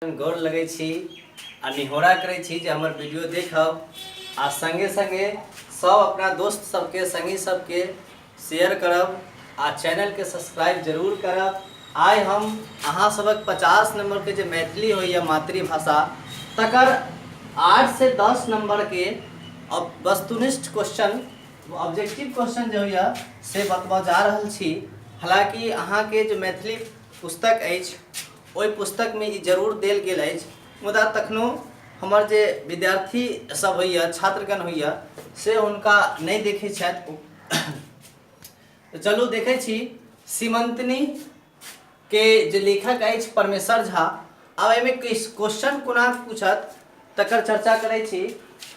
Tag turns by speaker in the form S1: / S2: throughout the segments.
S1: गोर लगै छी आ निहोरा करै छी जे हमर वीडियो देखब आ संगे संगे सब अपना दोस्त सबके संगी सबके शेयर करब आ चैनल के सब्सक्राइब जरूर करब आइ हम अहाँ सबक पचास नंबर के जे मैथिली होइए मातृभाषा तकर आठ से दस नंबर के अब वस्तुनिष्ठ क्वेश्चन ऑब्जेक्टिव क्वेश्चन जे होइए से बतबऽ जा रहल छी हालांकि अहाँके जे मैथिली पुस्तक अछि ओहि पुस्तकमे ई जरूर देल गेल अछि मुदा तखनो हमर जे विद्यार्थी सब होइए छात्रगण होइए से हुनका नहि देखै छथि तऽ चलू देखै छी सीमंतनी के जे लेखक अछि परमेश्वर झा आब एहिमे क्वेश्चन कोना पूछत तकर चर्चा करै छी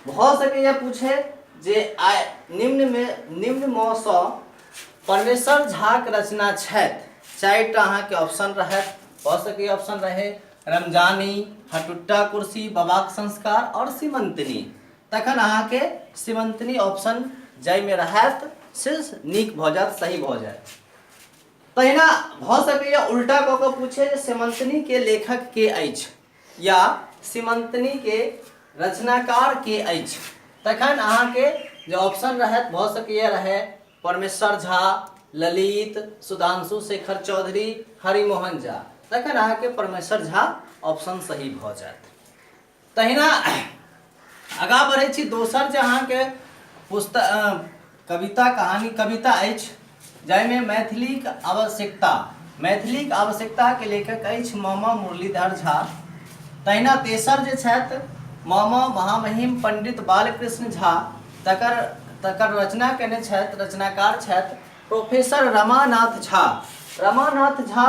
S1: भ सकैए पूछे जे आय निम्न मे निम्न म स परमेश्वर झाक रचना छथि चारि टा अहाँके ऑप्शन रहत भ सकैए ऑप्शन रहे रमजानी हटुट्टा कुर्सी बाबाक संस्कार और सीमंतनी तखन अहाँके सीमंतनी ऑप्शन जाहिमे रहत से नीक भ जायत सही भ जायत तहिना भ सकैए उल्टा क के पूछे जे सीमंतनी के लेखक के अछि या सीमंतनी के रचनाकार के अछि तखन अहाँ के जे ऑप्शन रहत भ सकैया रहे परमेश्वर झा ललित सुधांशु शेखर चौधरी हरिमोहन झा तखन अहाँ के परमेश्वर झा ऑप्शन सही भ जायत तहिना आगाँ बढ़ै छी दोसर जे अहाँके पुस्तक कविता कहानी कविता अछि जाहिमे मैथिलीक आवश्यकता मैथिलीक आवश्यकताके लेखक अछि मामा मुरलीधर झा तहिना तेसर जे छथि मामा महामहिम पंडित बालकृष्ण झा तकर तकर रचना कयने छथि रचनाकार छथि प्रोफेसर रमानाथ झा रमानाथ झा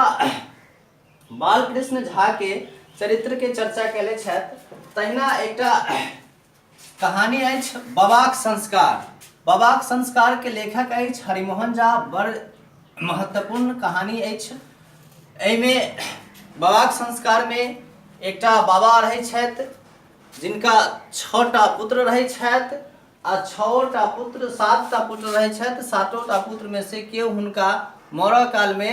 S1: बालकृष्ण झा के चरित्र के चर्चा कैले छथि तहिना एकटा कहानी अछि बाबाक संस्कार बाबाक संस्कार के लेखक अछि हरिमोहन झा बड़ महत्वपूर्ण कहानी अछि एहिमे बाबाक संस्कार में एकटा बाबा रहै छथि जिनका छओ टा पुत्र रहै छथि आ छओ टा पुत्र सात टा पुत्र रहै छथि सातो टा पुत्रमे से केओ हुनका मरऽ कालमे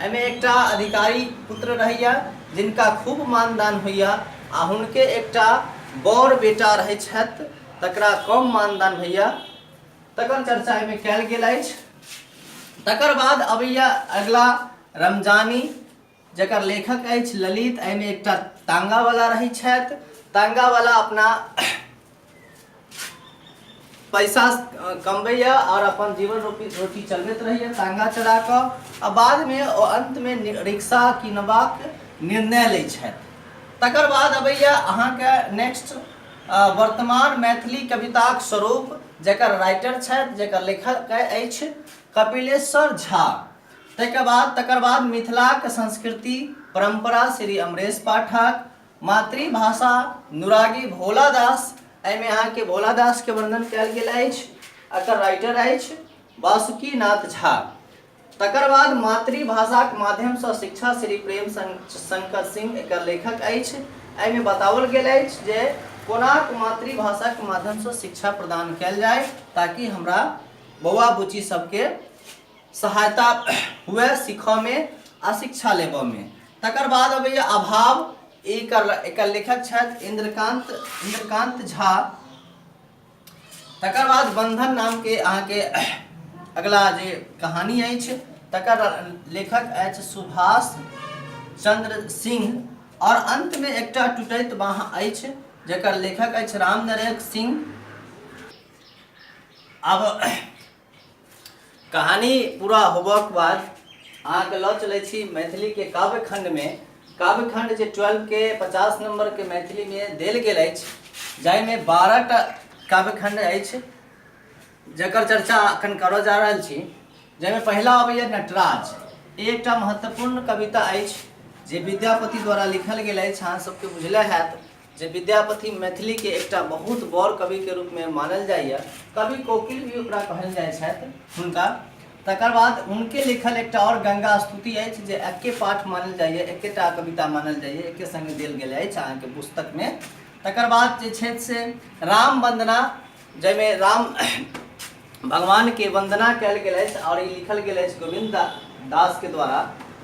S1: एहिमे एकटा अधिकारीक पुत्र रहैए जिनका खूब मानदान होइए आ हुनके एकटा बड़ बेटा रहैत छथि तकरा कम मानदान होइए तकर चर्चा एहिमे कयल गेल अछि तकर बाद अबैए अगिला रमजानी जकर लेखक अछि ललित एहिमे एकटा तांगावला रहैत छथि तांगावला अपना पैसा कमबैए आओर अपन जीवन रोपी रोटी चलबैत रहैए टाङ्गा चला कऽ आ बादमे ओ अन्तमे रिक्शा किनबाक निर्णय लै छथि तकर बाद अबैए अहाँके नेक्स्ट वर्तमान मैथिली कविताक स्वरूप जकर राइटर छथि जकर लेखक अछि कपिलेश्वर झा ताहिके बाद तकर बाद मिथिलाक संस्कृति परम्परा श्री अमरेश पाठक मातृभाषा नुरागी भोला दास एहिमे अहाँके भोला दासके वर्णन कयल गेल अछि एकर राइटर अछि वासुकी नाथ झा तकर बाद मातृभाषाक माध्यमसँ शिक्षा श्री प्रेम शंकर सिंह एकर लेखक अछि एहिमे बताओल गेल अछि जे कोनाक मातृभाषाक माध्यमसँ शिक्षा प्रदान कयल जाय ताकि हमरा बौआ बुच्ची सभके सहायता हुए सीखऽमे आ शिक्षा लेबऽमे तकर बाद अबैए अभाव एकर एकर लेखक छथि इन्द्रकान्त इन्द्रकान्त झा तकर बाद बन्धन नामके अहाँके अगला जे कहानी अछि तकर लेखक अछि सुभाष चन्द्र सिंह आओर अन्तमे एकटा टुटैत बाँह अछि जकर लेखक अछि राम नरेश सिंह आब कहानी पूरा होबक बाद अहाँके लऽ चलै छी मैथिलीके काव्य खण्डमे काव्य खण्ड जे ट्वेल्वके पचास नम्बरके मैथिलीमे देल गेल अछि जाहिमे बारहटा काव्य खण्ड अछि जकर चर्चा अखन करऽ जा रहल छी जाहिमे पहिला अबैया नटराज ई एकटा महत्वपूर्ण कविता अछि जे विद्यापति द्वारा लिखल गेल अछि अहाँ सबके बुझले हैत जे विद्यापति मैथिली के एकटा बहुत बड़ कवि के रूप में मानल जाइए कवि कोकिल भी ओकरा कहल जाइ छथि हुनका तकर बाद हुनके लिखल एकटा और गंगा स्तुति अछि जे एके पाठ मानल जाइए एकेटा कविता मानल जाइए एके संगे देल गेल अछि अहाँके पुस्तक में तकर बाद जे छथि से राम वंदना जाहिमे राम भगवानके वन्दना कयल गेल अछि आओर ई लिखल गेल अछि गोविन्द दा- दासके द्वारा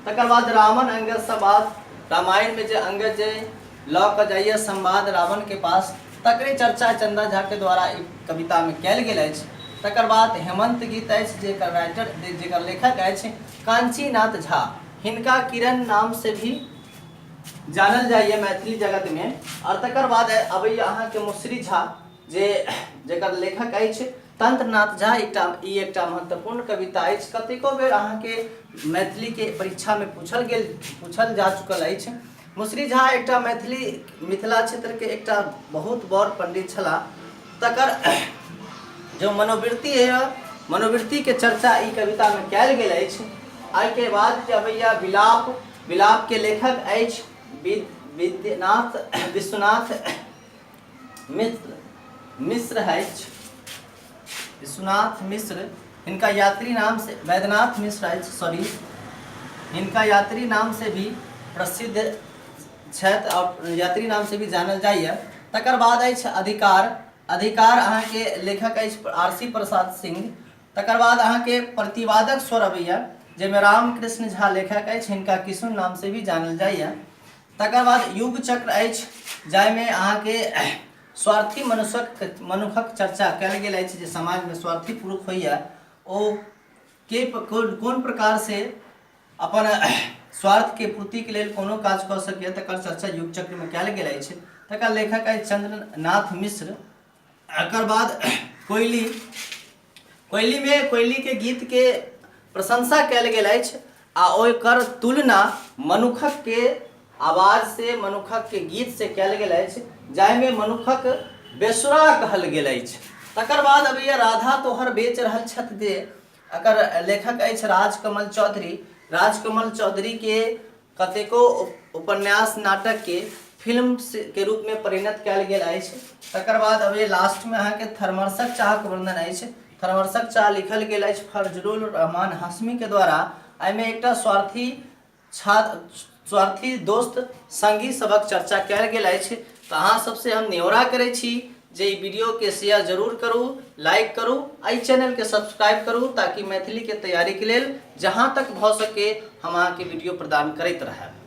S1: तकर बाद रावण अंगदसँ बात रामायणमे जे अंगद जे लऽ कऽ जाइए संवाद रावणके पास तकरे चर्चा चंदा झाके द्वारा ई कवितामे कयल गेल अछि तकर बाद हेमंत गीत अछि जेकर राइटर जे- जेकर लेखक अछि कांचीनाथ झा हिनका किरण नामसँ भी जानल जाइए मैथिली जगतमे आओर तकर बाद अबैए अहाँके मुसरी झा जे जकर लेखक अछि तंत्रनाथ झा एकटा ई एकटा महत्वपूर्ण कविता अछि कतेको बेर अहाँके मैथिलीके परीक्षामे पूछल गेल पूछल जा चुकल अछि मुसरी झा एकटा मैथिली मिथिला क्षेत्रके एकटा बहुत बड़ पंडित छलाह तकर जो मनोवृत्ति है मनोवृत्तिके चर्चा ई कवितामे कयल गेल अछि एहिके बाद जे अबैया विलाप विलापके लेखक अछि विद्यनाथ विश्वनाथ मित्र मिश्र अछि विश्वनाथ मिश्र इनका यात्री नाम से वैद्यनाथ मिश्र अछि सॉरी इनका यात्री नाम से भी प्रसिद्ध छथि आओर यात्री नाम से भी जानल जाइए तकर बाद अछि अधिकार अधिकार अहाँके लेखक अछि आर सी प्रसाद सिंह तकर बाद अहाँके प्रतिवादक स्वर अबैया जाहिमे रामकृष्ण झा लेखक अछि हिनका किशुन नाम से भी जानल जाइए तकर बाद युग चक्र अछि जाहिमे अहाँके स्वार्थी मनुष्यक मनुखक चर्चा कयल गेल अछि जे समाजमे स्वार्थी पुरुष होइए ओ के कोन प्रकार से अपन स्वार्थके पूर्तिके लेल कोनो काज कऽ सकैए तकर चर्चा युग चक्रमे कयल गेल अछि तकर लेखक अछि चंद्रनाथ मिश्र एकर बाद कोयली कोयलीमे कोयलीके गीतके प्रशंसा कयल गेल अछि आ ओकर तुलना मनुखकके आवाजसँ मनुखकके गीतसँ कयल गेल अछि जाहिमे मनुखक बेसुरा कहल गेल अछि तकर बाद अबैया राधा तोहर बेच रहल छथि दे एकर लेखक अछि राजकमल चौधरी राजकमल चौधरीके कतेको उपन्यास नाटक के फिल्म के रूप में परिणत कल गेल अछि तकर बाद अभी लास्ट में अहाँ के थर्मर्सक चाह के वर्णन अछि थर्मर्सक चाह लिखल गेल अछि फरजरुल रहमान हाशमी के द्वारा एहिमे एकटा स्वार्थी छात्र स्वार्थी दोस्त संगी सबक चर्चा कल गेल अछि तऽ अहाँ सबसे हम न्योरा करै छी जे ई वीडियोके शेयर जरूर करू लाइक करू आ ई चैनलके सब्सक्राइब करू ताकि मैथिलीके तैयारीके लेल जहाँ तक भऽ सके हम अहाँके वीडियो प्रदान करैत रहब